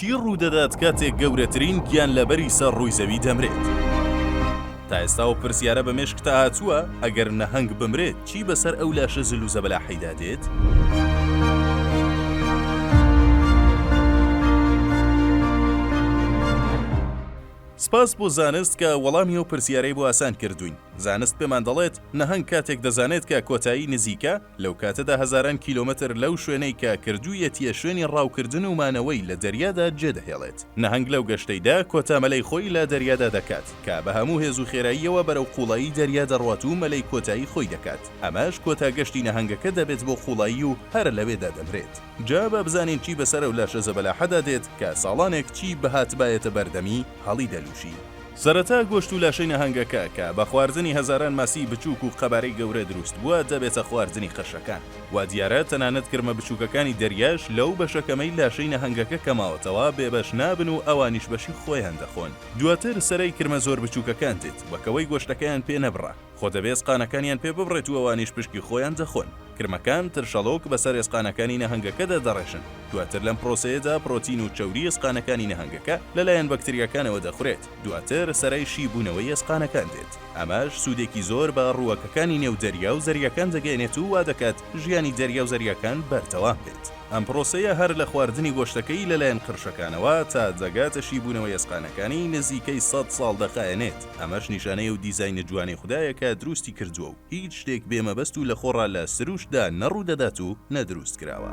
چی ڕوودەدات کاتێک گەورەترین گیانلەبەری سەر ڕووی زەوی دەمرێت؟ تا ئێستا ئەو پرسیارە بە مێشکتا هاتووە، ئەگەر نەهەنگ بمرێت، چی بەسەر ئەو لاشە زل و زەبەلاحەیدا دێت؟ سپاس بۆ زانست کە وەڵامی ئەو پرسیارەی بۆ ئاسان کردووین. زانست پێمان دەڵێت، نەهەنگ کاتێک دەزانێت کە کۆتایی نزیکە، لەو کاتەدا هەزاران کیلۆمەتر لەو شوێنەی کە کردوویەتییە شوێنی ڕاوکردن و مانەوەی لە دەریادا جێدەهێڵێت. نەهەنگ لەو گەشتەیدا کۆتا مەلەی خۆی لە دەریادا دەکات، کە بە هەموو هێز و خێراییەوە بەرەو قوڵایی دەریا دەڕوات و مەلەی کۆتایی خۆی دەکات، ئەمەش کۆتا گەشتی نەهەنگەکە دەبێت بۆ قوڵایی و هەر لەوێدا دەمرێت. جا با بزانین چی بەسەر ئەو لاشە زەبەلاحەدا دێت کە ساڵانێک چی بهاتبایەتە بەردەمی هەڵیدەلووشی. سەرەتا گۆشت و لاشەی نەهەنگەکە کە بە خواردنی هەزاران ماسیی بچووک و قەبارەی گەورە دروست بووە، دەبێتە خواردنی قەشەکان. وا دیارە تەنانەت کرمە بچووکەکانی دەریاش لەو بەشە کەمەی لاشەی نەهەنگەکە کە ماوەتەوە، بێبەش نابن و ئەوانیش بەشی خۆیان دەخۆن. دواتر سەرای کرمە زۆر بچووکەکان دێت، وەکەوەی گۆشتەکەیان پێ نەبڕە. خۆ دەبێ ئێسقانەکانیان پێ ببڕێت و ئەوانیش پشکی خۆیان دەخۆن. کرمەکان، ترشەڵۆک، بەسەر ئێسقانەکانی نەهەنگەکە دەدەڕێژن. دواتر لەم پرۆسەیەدا پرۆتین و چەوری ئێسقانەکانی نەهەنگەکە لەلایەن بەکتریاکانەوە دەخورێت. دواتر سەرای شی بوونەوەی ئێسقانەکان دێت. ئەمەش سوودێکی زۆر بە ڕووەکەکانی نێو دەریا و زەریاکان دەگەیەنێت و وا دەکات ژیانی دەریا و زەریاکان بەردەوام بێت. ئەم پرۆسەیە هەر لە خواردنی گۆشتەکەی لەلایەن قرشەکانەوە تا دەگاتە شی بوونەوەی ئێسقانەکانی نزیکەی سەد ساڵ دەخایەنێت. ئەمەش نیشانەی ئەو دیزاینە جوانەی خودایە کە دروستی کردووە و هیچ شتێک بێ مەبەست و لەخۆڕا لە سروشتدا نە ڕوودەدات و نە دروست کراوە.